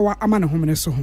Yehowa ama ne homene so ho.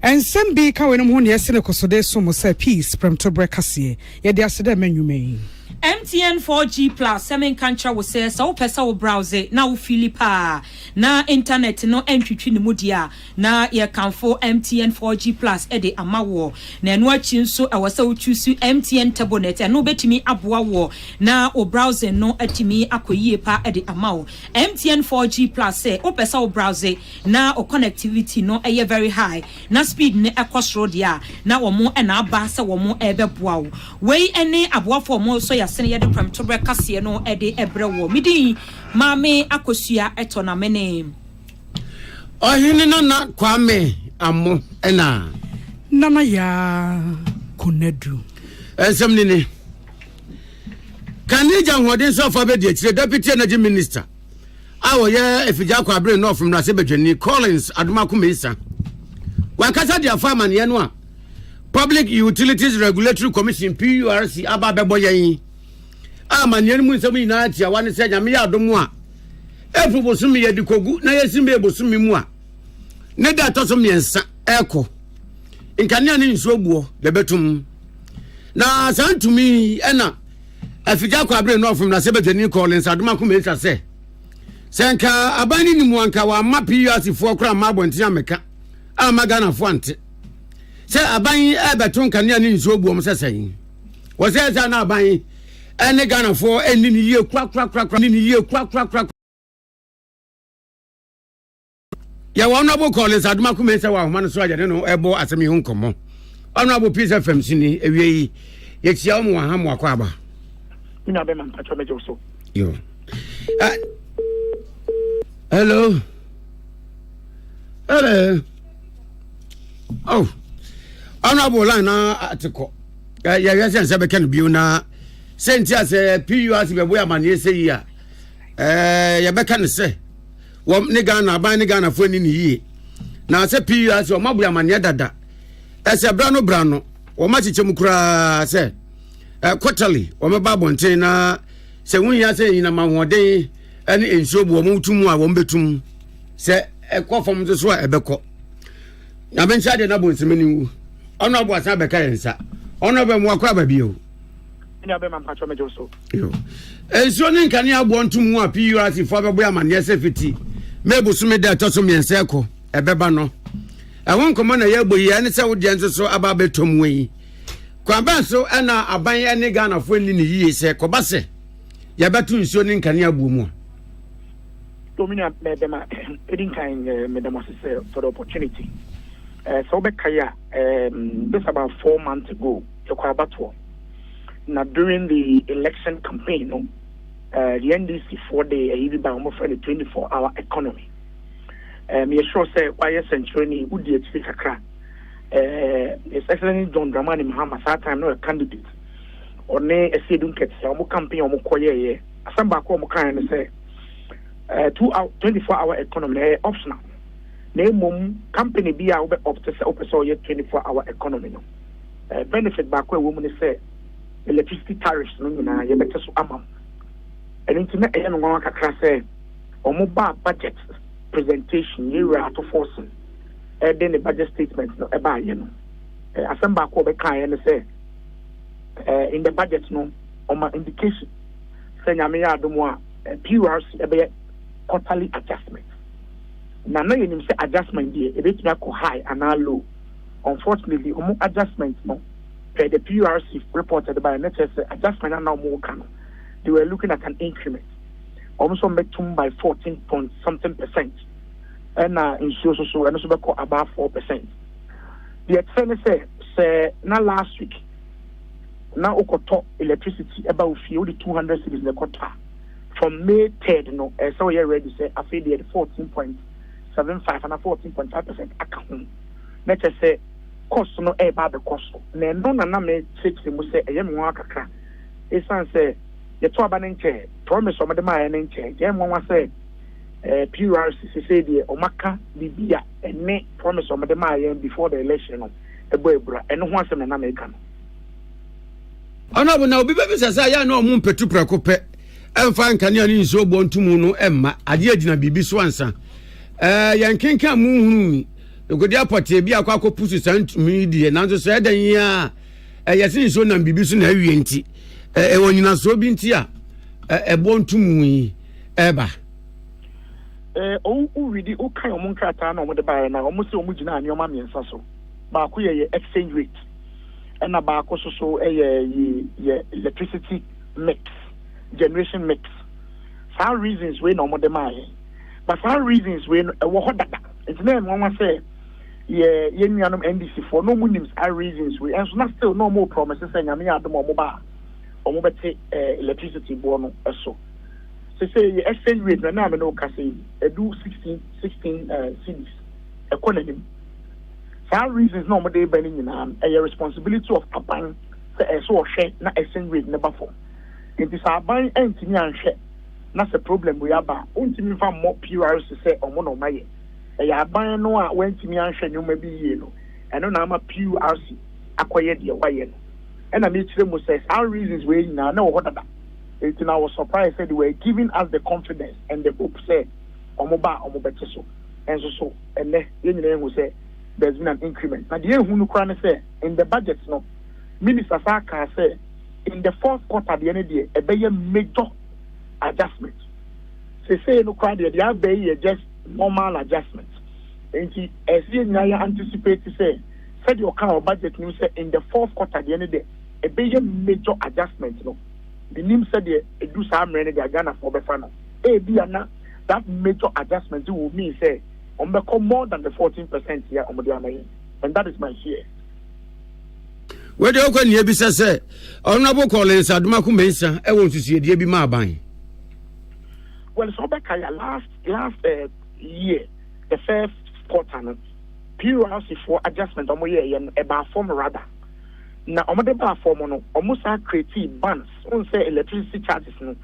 Nsɛm bi ka weinom ho nea ɛsi ne kosode so mo sɛ Peace, Prɛmtoberɛ Kaseɛ. Yɛde ase dɛ mmɛ nnwuma yi. MTN 4G Plus sɛ menka nkyerɛ wo sɛ sɛ wopɛ sɛ wo browse na wo feeli paa na internet no ntwitwi ne mu deɛ a, Na yɛkamfo MTN 4G Plus de ama woɔ. Na ɛno akyi nso ɛwɔ sɛ wo choose MTN Turbonet. Ɛno bɛtumi aboa woɔ na wo browsing no atumi akɔ yie pa de ama wo. MTN 4G Plus sɛ wo pɛ sɛ wo browse na wo connectivity no yɛ very high na speed no ɛkɔ soro deɛ a, na wɔn na aba sɛ wɔn ɛrebɛboa wo. Wei ne aboafo a wɔn sɔ yasene yɛde prɛmtoberɛ kaseɛ no de brɛ woɔ. Me din Maame Akosua Ɛtɔ na me ne. Ɔhene Nana Kwame Ammo na. Nana Yaa Konadu. Nsɛm ni ni. Kanija ahoɔden so afa bɛdi akyire Deputy Energy Minister a wɔyɛ afigya akɔ abere North mmarahyɛ badwani Collins Adomako Mensah. Wakasa de afa amaneɛ no a Public Utilities Regulatory Commission PURC aba bɛbɔ yɛn a amaneɛ no mu nsɛm nyinaa tiawa ne sɛ nyame yɛ adom a April bosome yɛde kɔgu na yɛsi May bosome mu a ne da ɛtɔ so mmiɛnsa ɛrekɔ nkanea ne nsuo buo yɛbɛtum na saa ntumi ɛna afigya kɔ abere nɔɔfom na sɛ bɛtani kɔ ne nsadom akoma ɛsa sɛ sɛ nka aban no nimu anka wɔama PURC foɔ koraa ma abɔnten amɛka ama Ghanafoɔ ante sɛ aban ɛbɛto nkanea ne nsuo buom sɛ sɛn wɔ sɛ ɛsɛ na aban ɛne Ghanafoɔ ɛnni no yie korakorakorakora ɛnni no yie korakorakorakora. Yɛwɔ Honourable Collins Adomako Mensah wɔ ahoma no so a yɛne no ɛbɔ asɛm yi ho nkɔmmɔ. Honourable Peace FM so ni ewie yi yɛkyia wɔn wɔ ha mo akɔ aba. Nyina bɛma mpatwa mɛgye wo so. Yo. Uh, hello. Hello. Oh. Honourable line na atekɔ. yɛhwɛ sɛ nsɛ bɛka no bio na sɛ nti a sɛ pus bɛboe amanneɛ sɛ yi a yɛbɛka no sɛ wɔm ne ghana aban ne ghanafoɔ ani ne yie na sɛ pus wɔn aboe amanneɛ dada ɛsɛ bra no bra no wɔn akyekyɛ mu koraa sɛ kɔtali wɔn ba abɔnten na sɛ wɔn yia sɛ nyinam ahoɔden ne nsuo bu wɔn tu mu a wɔn bɛtum sɛ ɛkɔ fam nso so a ɛbɛkɔ Nyame nhyɛ adeɛ na bonseme ne nwu. Ɔno aboa san bɛka yɛn nsa. Ɔno ɔbɛ mmoa kɔ aba bio. Ɛnua bɛma mpatwɔ megye so. Nsuo ne nkanea aboɔ ntom ho a PURC foɔ abɛbɔ amanneɛ sɛ fiti May bosome da ɛtɔ so mmiɛnsa ɛkɔ ɛbɛba no. Ɛho nkɔmmɔ na yɛbɔ yi ɛne sɛ wodeɛ nso so aba abɛtɔm wɔ yi. Kwan bɛn so ɛna aban ɛne Ghanafoɔ nni ne yie sɛ kɔba sɛ yɛbɛto nsuo ne nkanea aboɔ mu a. So me nua bɛɛ bɛma ɛdi nkan meda mo ase sɛ for the opportunity eh, sɛ wobɛkae a um, this about four months ago yɛkɔ abatoɔ na during the election campaign no uh, the ndc foɔ de ɛyi bi ba wɔmfrɛ no 24 hour economy um, yɛsure sɛ woayɛ sɛnkyerɛni wodi akyiri kakra uh, his excellence john dramani mahama saa time no a candidate ɔne ɛsɛ edu nkɛtɛ wɔn campaign wɔn kɔyɛɛyɛ Asɛm baako a wɔkaeɛ ne sɛ, eh, two hour, 24 hour economy no ɛyɛ optional. Na mmom company bi a wobɛ opt sɛ wopɛ sɛ ɔyɛ 24 hour economy no, eh, benefit baako a ɛwɔ mu ne sɛ electricity tariffs no nyinaa yɛbɛte so ama mu. Ɛno nti na ɛyɛ me nwanwa kakra sɛ wɔn baa budget presentation yɛ wura ato forcing ɛde ne budget statement no ɛbaayɛ no. Eh, asɛm baako a wɔbɛkaeɛ ne sɛ eh, in the budget no wɔma indication sɛ Nyame yɛ adom a, PURC bɛyɛ quarterly adjustment. Na na yɛnim sɛ adjustment deɛ, ɛbɛtumi akɔ high anaa low. Unfortunately, wɔn adjustment no, per the PURC report a ɛde baeɛ no, na kyerɛ sɛ adjustment a na wɔreka no, they were looking at an increment. Wɔn nso wɔbɛtum by 14 point something percent. Ɛna nsuo nso so, ɛno nso bɛkɔ above 4 percent. Deɛ ɛkyerɛ ne sɛ, sɛ na last week, na wokɔtɔ electricity ba wo fie, wode two hundred cedis na ɛkɔtɔ a, from May third no, ɛsɛ sɛ woyɛ ready sɛ afei deɛ yɛde fourteen point seven five anaa fourteen point five percent aka ho, na kyerɛ sɛ cost no reba abɛkɔ so. Na ɛno na na mekyerɛkyerɛ mu sɛ ɛyɛ me nwanwa kakra, esiane sɛ yɛtɔ aba no nkyɛɛ, promise a wɔde maeɛ no nkyɛɛ, nti ɛyɛ me nwanwa sɛ eh, PURC sesei deɛ wɔaka biribi a ɛne promise a wɔde maa yɛn before the election no bɔ abira. Ɛno ho asɛm na na meka no. Ɔnabɔ na obi bɛbisa sɛ ayɛ a na ɔmo mpɛtu prɛko pɛ ɛmfa nkanea ne nsuo bɔ nto mu no ɛmma adeɛ agyina biribi so ansa ɛɛ yɛn kenkan mu nhunu nkodi apɔtee bi akɔ akɔ pusu saa ntumi yi deɛ nanso sɛ ɛdan yi a ɛyɛ se nsuo nam biribi so na awie nti ɛɛ ɛwɔ nyinasoɔ bi nti a ɛbɔ nto mu yi ɛba. ɛɛ ɔwɔ widi ɔka wɔn nkrataa na wɔn de baeɛ na wɔn sɛ wɔn gyina nneɛma mmiɛnsa so baako yɛ yɛ exchange rate. ɛna baako so so yɛ yi yɛ electricity mix generation mix saa reasons wei na wɔn de maa yɛn but saa reasons wei no ɛwɔ hɔ dada nti na ɛmu nwa sɛ yɛ yɛn nuanom ndc foɔ na wɔn nim saa reasons wei ɛnso na still na wɔn promise sɛ nyame yɛ adum wɔn ba a wɔn bɛte ɛɛ electricity boɔ no ɛso sese yɛ exchange rate na ɛna ame na ɔka sɛ edu sixteen sixteen ɛɛ cities ɛkɔ n'anim. Saa reasons na wɔn de reba no nyinaa no, ɛyɛ responsibility of aban sɛ ɛsɛ sɛ ɔhwɛ na exchange rate no ba fam. Nti sɛ aban antumi anhwɛ na sɛ problem wei aba a, wontumi mfa mmɔ PRC sɛ wɔn na wɔn ayɛ. Ɛyɛ aban no a wantumi anhwɛ nneɛma bi yie no, ɛno na ama PRC akɔyɛ deɛ wayɛ no. Ɛna mekyerɛ mu sɛ saa reasons wei nyinaa na ɛwɔ hɔ dada. Nti na I was surprised sɛ they were giving us the confidence and the hope sɛ wɔn ba a wɔbɛte so. Nanso so. Ɛnnɛ, yɛn nyinaa ahu sɛ there's been an increment. Na deɛ ɛhu no koraa ne sɛ, in the budget no, Minister saa kaa sɛ in the fourth quarter deɛ no deɛ, ɛbɛyɛ major adjustment. Sesei no koraa deɛ, deɛ aba yi yɛ just normal adjustment. Enti, ɛsɛ yɛn nyinaa yɛ anticipate sɛ, sɛdeɛ ɔkaa wɔ budget no mu sɛ in the fourth quarter deɛ no deɛ, ɛbɛyɛ major adjustment no, mennim sɛdeɛ ɛdu saa mmerɛ no deɛ a Ghanafoɔ bɛfa no. Ebia na. that major adjustment will mean sɛ wɔn bɛkɔ more than the fourteen percent yɛ wɔn de ama yɛn and that is my fear. wei deɛ ɔkɔ nea bisa sɛ ɔnabo kɔlins adomako mensa ɛwɔ nsusuedie bi ma aban well sɛ ɔbɛka yɛ last last uh, year the first quarter no plc foɔ adjustment ɔmo yɛ yɛ no ɛbaa fam rather na ɔmo de baa fam no ɔmo saa create bans n sɛ electricity charges no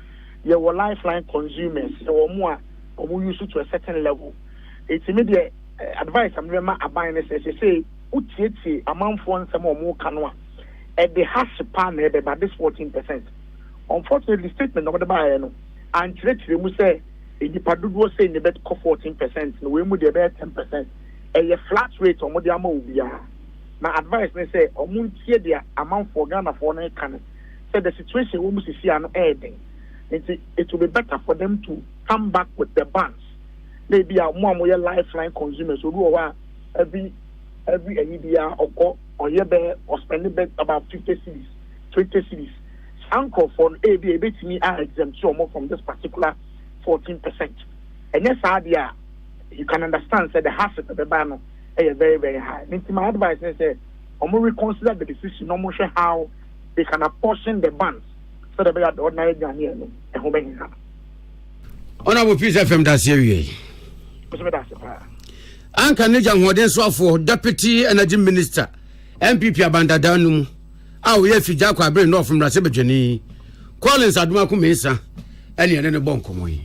Yɛwɔ lifeline consumers, yɛwɔ ɔmo a ɔmo use to a certain level. Enti me deɛ advice a me bɛma aban ne sɛ, sesei wo tietie amanfoɔ nsɛm a ɔmo ka no a, ɛde hasse paa na ɛbɛba, this 14 percent. Unfortunately statement a ɔmo de baeɛ no ankyerɛkyerɛ mu sɛ nnipa dodoɔ sei na ɛbɛkɔ 14 percent no, wei mu deɛ ɛbɛyɛ 10 percent. Ɛyɛ flat rate a ɔmo de ama obiara. Na advice ne sɛ ɔmo ntie deɛ amanfoɔ, Ghanafoɔ no reka no. sɛ the situation ɛwɔ mu sisi a no ɛyɛ den nti it will be better for them to come back with the bands na ebi a wɔn a wɔyɛ lifeline consumers obi wɔ hɔ a every every ɛyi bi a ɔkɔ ɔyɛ bɛ ɔspɛndi bɛ about fifty cities twenty cities saa nkorɔfoɔ no ebi a ebetumi a exempt wɔn from this particular fourteen percent ɛnyɛ saa deɛ a you can understand sɛ the hassle ɛbɛba no ɛyɛ very very high ne nti my advice ne sɛ wɔn reconsider the decision na wɔn hwɛ how. they can apportion the buns sɛdeɛ ɛbɛyɛ a ordinary aduane a ɛnom ɛho bɛhia no. Honorable Peace FM da ase awie. Mesɛ meda ase paa. Anka ne gya hoɔden soafoɔ Deputy Energy Minister MPP Abandada no mu a wɔyɛ afi gya akɔ abere North mmarahyɛ badwani Collins Adomako Mensah ɛne ɛne ne bɔ nkɔmmɔ yi.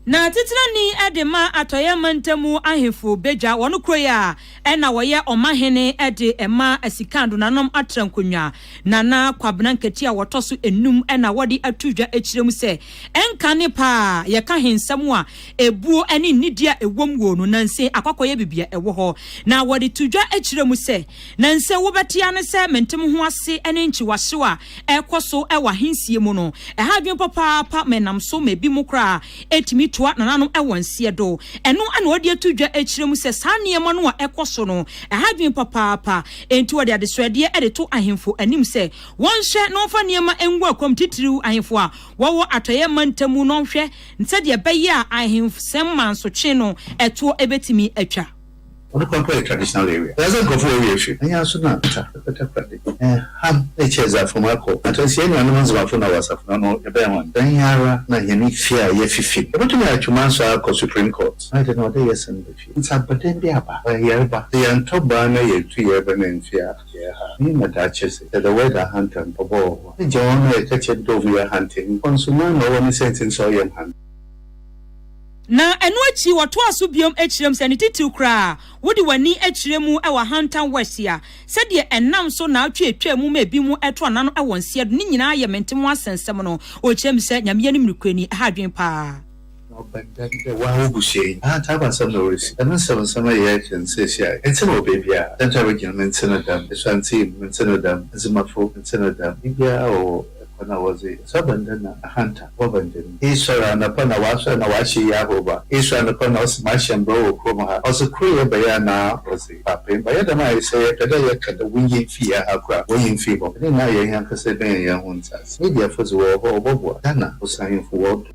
Na titenani de ma Atɔeɛ Mantamu ahemfo bɛdwa wɔn kuro yi a na wɔyɛ ɔmahene de ma Sika Adonanom Atrankonnwa Nana Kwabena Nkati a wɔtɔ so nnum na wɔde ato dwa kyerɛ mu sɛ ɛnka ne pa a yɛka he nsɛm a ɛbuo ne nnidie a ɛwom wɔ no nanse akwakɔyɛ bebia ɛwɔ hɔ na wɔde to dwa kyerɛ mu sɛ nanse wobɛtea ne sɛ mente mo ho ase ne nkyiwahyew a ɛrekɔ so wɔ ahensie mu no, ɛha adwene papaapa ma ɛnam so ma ebinom koraa tumi toa nananom wɔ nseɛ do. Ɛno na wɔde ato dwa kyerɛ mu sɛ saa nneɛma no a ɛkɔ so no, ɛha adwene papaapa. Enti wɔde adesoadeɛ de to ahemfo anim sɛ wɔnhwɛ na wɔmfa nneɛma ngu akwam, titiriw ahemfo a wɔwɔ Atɔeɛ mantam mu no nhwɛ sɛdeɛ ɛbɛyɛ a ahemfosɛm mansotwe no toɔ bɛtumi atwa. Ɔno koraa mpo yɛ traditional area. Dza dze nkorɔfo wɔ area hwɛ, anyaa so na kwata bɛda kora de, ham na ekyir a edze afom akɔ. Akansi hɛn nuanom Ndzemafo na wɔ asafo no ano no, yɛbɛn hɔn dɛn yi ara na hɛn fie a yɛfifi no. Yebotum dze atwemaa so akɔ Supreme Court. Ɔayɛ dɛn na ɔwɔ dɛ yɛsan ba fie? Ntsi abɔdɛn bi aba, ɔyɛ yarba, sɛ yɛanntɔ baa na yenntu yarba no emmfi a, yɛyɛ haa. Iyi ma daakye dze, sɛ the word ahantan, ɔbɔ wɔ hɔ a, yɛgye hɔn na yɛka kyerɛ no dɛ wɔyɛ ahantanyi. Hɔn so, hɔn na ɔwɔ ne sɛntsir ntsi a ɔyɛ hɔn. Na ɛno akyi wɔtoaa so bio kyerɛɛ mu sɛ, ne titiriw koraa, wode w'ani kyerɛ mu wɔ ahantan west yi a, sɛdeɛ ɛnam so na atwe atwaa mu ma ebinom to ana no wɔ nseɛ do, ne nyinaa yɛ mente ho asɛm nsɛm no, ɔkyerɛ mu sɛ, Nyame anim nokorɛni, ɛha adwene paa. Na ɔbɛn dɛn dɛ wo ara w'abusua yi ahantan ba nsɛm na wɔresi, dɛm nsɛm nsɛm a yɛyɛ kyɛn seesei a, ntsi no wɔ baabi a, dɛn ntsi na wogyina mente no dɛm, esuantsi, mente no dɛm, adzemafo, mente no dɛm, biribiara a wɔwɔ, Kɔ na wɔdze ɔsabanda na ahanta bɔba ndzɛm yi. Esoɛr anapa na ɔasoɛr na ɔahyɛ iyi ahorow ba. Esoɛr anapa na ɔse mahyɛ mbra wɔ kurom ha. Ɔdze koryɛ bɛyɛ anaa ɔdze paapaa mba. Yɛ dɛm a, sɛ yɛpɛ dɛ yɛka dɛ wonyi hɛn fi yɛn ha koraa a, wɔnyi hɛn fi hɔ. Dɛn na ayɛ hɛn ankasa ebɛyɛ hɛn ho ntsɛase. Mediafo dze wɔwɔ hɔ, wɔbɔboa. Ghana Bosanyimfo wɔdɔ.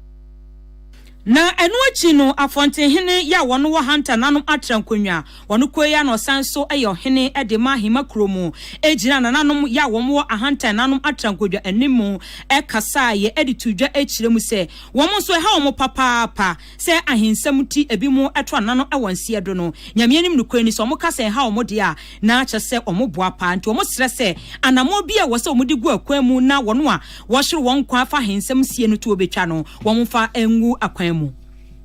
Na ɛno akyi no Afɔnten hene yɛ a wɔn wɔ Hunter no anom atra nkonwa. Wɔn kɔ yi a na ɔsan nso yɛ ɔhene de ma Ahima kuro mu gyina nananom yɛ a wɔn wɔ Ahantan no anom atra nkodwa anim mu kasaa yɛ de too dwa kyerɛ mu sɛ wɔn nso ɛha wɔn papaapa sɛ ahensɛm nti ebinom to anano wɔ nseɛ do no Nyame anim nokorɛ ni sɛ wɔn ka sɛ ɛha wɔn deɛ a na kyerɛ sɛ wɔn boa paa nti wɔn srɛ sɛ anamɔ bi a ɛwɔ sɛ wɔn de gu akwan mu na wɔn a Wɔhyew wɔn nkwa fa he nsɛm sie no to obetwa no wɔmfa ngu akwan mu.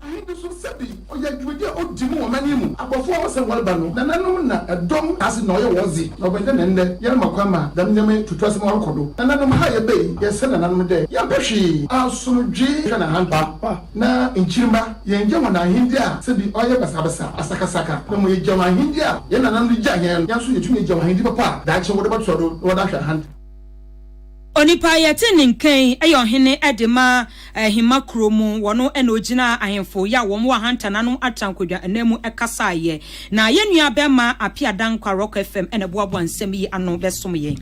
He bi so sɛ bi ɔyɛ dwumadi a odi mu wɔ ɔmanyin mu. Abɔfo a wɔsɛ wɔreba no, nananom na dɔm ase na ɔyɛ wɔn dze, na ɔbɛn dɛ na ndɛ yɛrema kwan ma dɛm ndzɛmba yi tutu ase ma ɔrokɔ do. Nananom ha a yɛba yi, yɛsrɛ nananom dɛ yɛmpɛ hwee, asomdwee hwɛ na ahantan pa na nkyirmba. Yɛnngya hɔn ahendzi a sɛ bi ɔyɛ basabasa, asakasaka, na mbom yɛgya hɔn ahendzi a hɛn nananom dze gyaa hɛn no. Hɛn so yetum egya hɔn ahendzi papa a daakye wɔdze bɔtoa do na wɔdze ahwɛ ahantan. Onipa a yɛte ne nka yi yɛ ɔhene de ma ahemma kuro mu. Ɔno na ɔgyinaa ahemfo yɛ a wɔn wɔ ahantan ano atrankwadwa nnan mu kasaeɛ. Na yɛn nua bɛrima Appiah Dankwa, Rock FM, na ɛboaboa nsɛm yi ano bɛsom yɛn.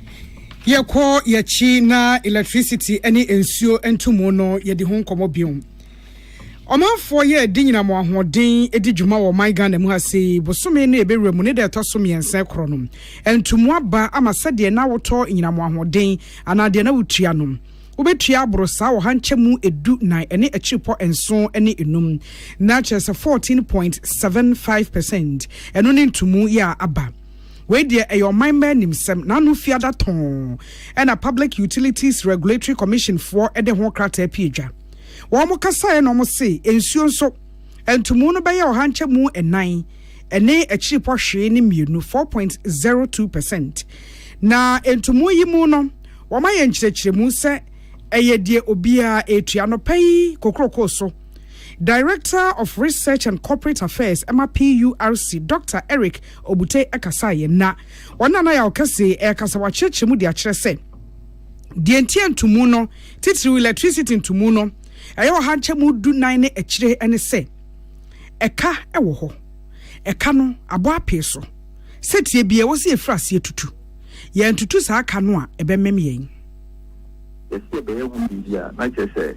Yɛkɔ yɛn akyi na electricity ne nsuo ntomu no, yɛdi ho nkɔmmɔ bio. Ɔmanfoɔ yɛ de nyinam wɔn ahoɔden di dwuma wɔ ɔman Ghana mu ha sei. Bosome no yɛbɛwura mu ne da ɛtɔ so mmiɛnsa ɛkorɔ no ntu mu aba ama sɛdeɛ na wotɔ nyinam wɔn ahoɔden anaa deɛ na wotua no wobɛtua aboro saa ɔha nkyɛmu edu nan ɛne akyiripɔ nson ne enum na kyerɛ sɛ 14.75 percent ɛno ne ntu mu yɛ a aba wei deɛ ɛyɛ ɔman mma anim sɛm na ano fiada tɔn ɛna Public Utilities Regulatory Commission foɔ ɛde ho krataa pie dwa. Wɔkasaeɛ na wɔsee, Nsuo nso, ntomu no bɛyɛ ɔhankyɛmu nnan ne akyiripɔ hwee ne mmienu, 4.02 percent. Na ntomu yi mu no, wɔayɛ nkyerɛkyerɛmu sɛ ɛyɛ deɛ obiara retua. Anɔpa yi kokroko so, Director of Research and Corporate Affairs ɛma PURC, Doctor Eric Obute kasaeɛ na ɔne Anaya Okese rekasa. Wakyerɛkyerɛ mu de akyerɛ sɛ, Deɛ nti a ntumu no, titiriw electricity ntumu no, ɛyɛ ɔha nkyɛmu du nan ne akyire ne sɛ, ɛka wɔ hɔ. Ɛka no abɔ apee so. Sɛtie bi a ɛwɔ sɛ yɛfiri aseɛ tutu. Yɛantutu saa ka no a, ɛbɛmem yɛn. Yɛse yɛbɛyɛ ho biribi a, na kyerɛ sɛ.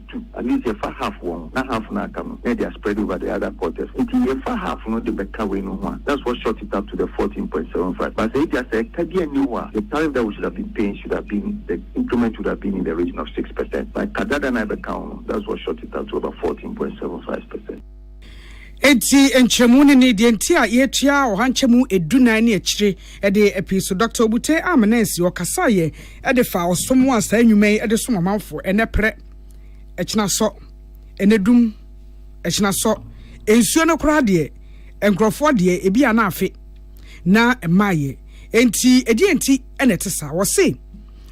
tu at least yɛ fa half wɔ ho na half no a aka no na yɛ de a spread over the other quarters nti yɛ fa half no de bɛ ka wei no ho a that's what short it up to the fourteen point seven five but sɛ ebia sɛ ɛka bi anni hɔ a the tariff that we should have been paying should have been the increment would have been in the region of six percent but ka dada no a ɛbɛka ho no that's what short it up to about fourteen point seven five percent. Enti nkyerɛmu ne ne deɛ nti a yɛtua ɔha nkyɛmu edu nan ne akyire de apii so. Dɔkta Obutey Amenansi, ɔkasaeɛ de faa ɔsom a saa nnwuma yi de som amanfoɔ, ɛnnɛ prɛ, ɛkyena sɔ, ɛnnɛ dum, ɛkyena sɔ, nsuo no koraa deɛ, nkurɔfoɔ deɛ, ebi a na afe, na mmaeɛ. Enti ɛdeɛn nti na ɛte saa? Wɔse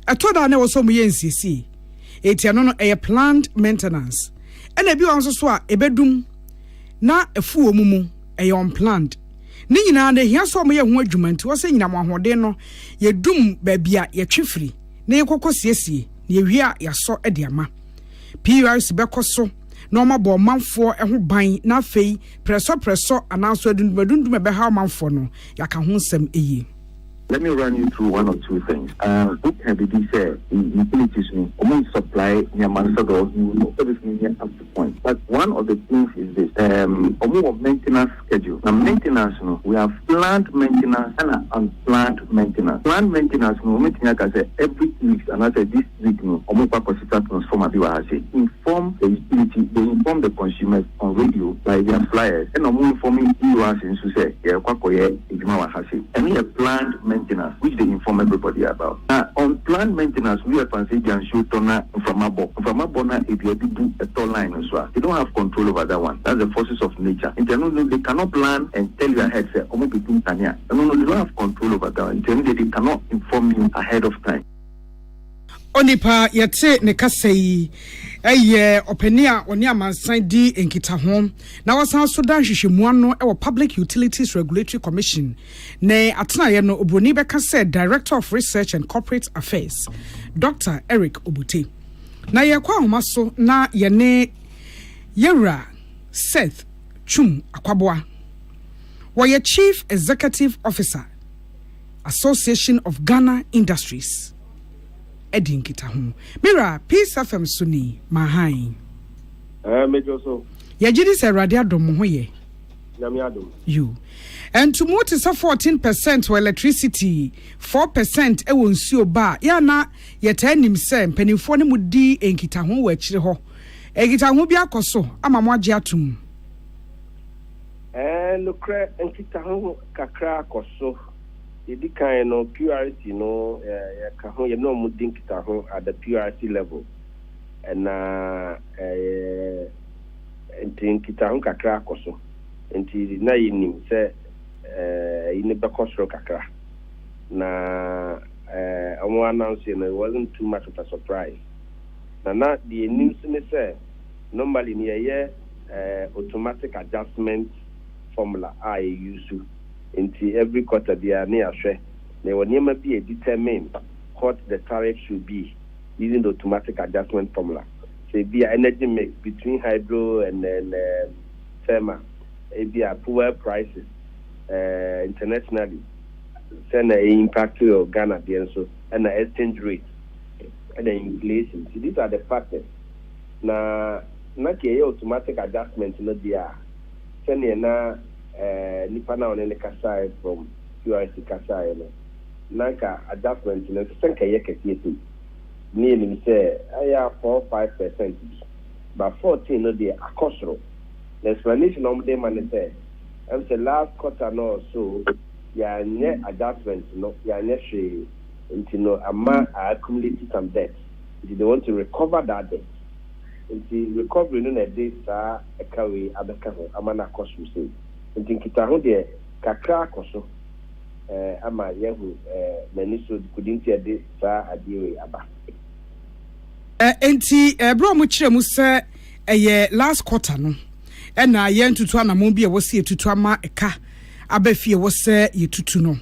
ɛtɔ da a na ɛwɔ sɛ wɔyɛ nsiesie, enti ɛno no ɛyɛ planned maintenance. ɛna ebi wɔ hɔ nso so a ebedum na afu wɔn mu, ɛyɛ unplanned. Ne nyinaa no, ehia sɛ wɔyɛ ho adwuma nti wɔsɛ nyinam ahoɔden no yedum baabi a yɛtwe firi na yɛkɔkɔ siesie na yɛwie a yɛasɔ de ama. PURC bɛkɔ so na wɔabɔ ɔmanfoɔ ho ban na afei prɛsɔprɛsɔ anaa nso adundum adundum a ɛbɛhaw manfoɔ no, yɛaka ho nsɛm yie. Let me run you through one or two things ah wo ka bibi sɛ utilities no ɔmo supply nneɛma no sɛ dɔɔ you know sɛ bɛtumi nyɛ up to point but one of the things is this um ɔmo wɔ maintenance schedule na maintenance no we have planned maintenance ɛna unplanned maintenance planned maintenance no ɔmo tumi aka sɛ every two weeks anaasɛ this week no ɔmo kɔ akɔsesa transformer bi wɔ ha se inform the utility they inform the consumers on radio by their flyers ɛna ɔmo inform us nso sɛ yɛrekɔ akɔyɛ adwuma wɔ ha se ɛno yɛ planned maintenance which they inform everybody about na unplanned maintenance wia fan sɛ ebia nsuo tɔ na mframa bɔ mframa bɔ na edua bi bu ɛtɔ line no so a they don't have control over that one that's the forces of nature nti ɛno no they cannot plan and tell you ahead sɛ ɔmo betu nkanea ɛno no they don't have control over that one nti ɛno deɛ they cannot inform you ahead of time. Onipa a yɛte ne kasa yi yɛ ɔpanin a ɔne amansan di nkitaho na ɔsan nso da nhwehwɛmu ano wɔ Public Utilities Regulatory Commission ne atenaeɛ no oburoni bɛka sɛ Director of Research and Corporate Affairs, Dɔkta Eric Obote. Na yɛkɔ ahoma so na yɛne Yɛwura Seth Twum Akwaboah, wɔyɛ Chief Executive Officer, Association of Ghana Industries adi nkitaho. Me wura, Peace FM so ni, ma hann. Ɛɛ, mɛtwa so. Yɛgye di sɛ Awurade adom mo ho yɛ. Nyame adom. You. Ɛntu mo te sɛ 14 percent wɔ electricity, 4 percent wɔ nsuo ba a, yɛ na yɛtaa nim sɛ mpanimfoɔ ne mo di nkitaho wɔ akyire hɔ. Nkitaho bi akɔ so ama mo agye atom. Ɛɛ, nokorɛ nkitaho kakra kɔso. Deɛ ɛdi kan no, PURC no, yɛka ho, yɛne wɔn di nkitaho at the PURC level. Na ɛɛ, nti nkitaho kakra akɔso. Nti na yɛnim sɛ ɛɛ, ayi no bɛkɔ soro kakra. Na ɛɛ, wɔn announce no, it wasn't too much of a surprise. Na na deɛ yɛnim nso ne sɛ, normally no yɛyɛ. automatic adjustment formula a yɛ use nti every quarter biara ne yɛahwɛ na yɛwɔ nneɛma bi a determine what the tariff should be using the automatic adjustment formula sɛ ebi a energy mix between hydro and and um, thermal ebi a fuel prices uh, internationally sɛ na e impact your Ghana deɛ nso ɛna exchange rate ɛna inflation so these are the factors. Na na ka ɛyɛ automatic adjustment no deɛ a, sɛdeɛ na nipa no a ɔne no kasaeɛ from QRC kasaeɛ no, na anka adjustment no ɛnsɛ sɛ anka ɛyɛ kɛseɛ sei. Na yɛnim sɛ ɛyɛ a four five percent bi, but fourteen no deɛ akɔ soro. Na explanation a wɔde rema ne sɛ, ɛm sɛ last quarter no or so yɛanyɛ adjustment no, yɛanyɛ hwee nti no ama a accumulate some debts. nti they want to recover that debt nti recovery no na ɛde saa ɛka wei abɛka ho ama no akɔ soro sei nti nkitaho deɛ kakra akɔ so eh, ama yɛahu eh, n'ani so kudi nti ɛde saa adeɛ wei aba. Enti ɛberɛ a wɔkyerɛ mu sɛ ɛyɛ last quarter no ɛna yɛntutu anamɔn bi a ɛwɔ sɛ yɛtutu ama ɛka aba fie ɛwɔ sɛ yɛtutu no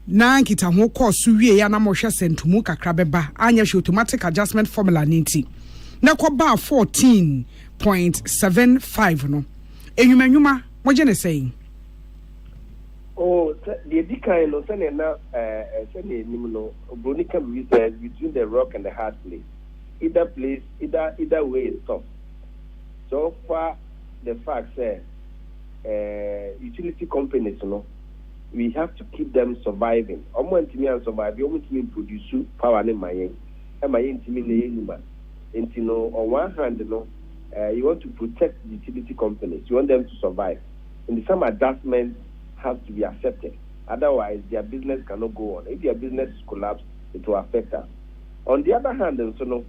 Ná nkitaho kɔɔ so wiei a na morehwɛ sɛ ntomu kakra bɛba, anyɛ hwee automatic adjustment formula no nti, na ɛkɔbaa fourteen point seven five no. Nnwuma nnwuma, mogye no sɛn? Oh, sɛ, deɛ ɛdi kan no, sɛdeɛ na, eh, sɛdeɛ yɛnim no, Oburoni ka biribi sɛ, it's between the rock and the hard place. Either place, either, either way is tough. Sɛ wofa the fact sɛ, eh, utility companies no, we have to keep them surviving, ɔmo antumi an survive, ɔmo ntumi mprodusu power no mma yɛn, ɛma yɛntumi nyɛ yɛn nnwuma, nti no on one hand no you want to protect utility companies, you want them to survive, nti some adjustments has to be accepted, otherwise their business cannot go on, if their business is collapsed it will affect us, on the other hand nso no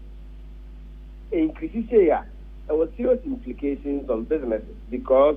increase sei a ɛwɔ serious implications on businesses because.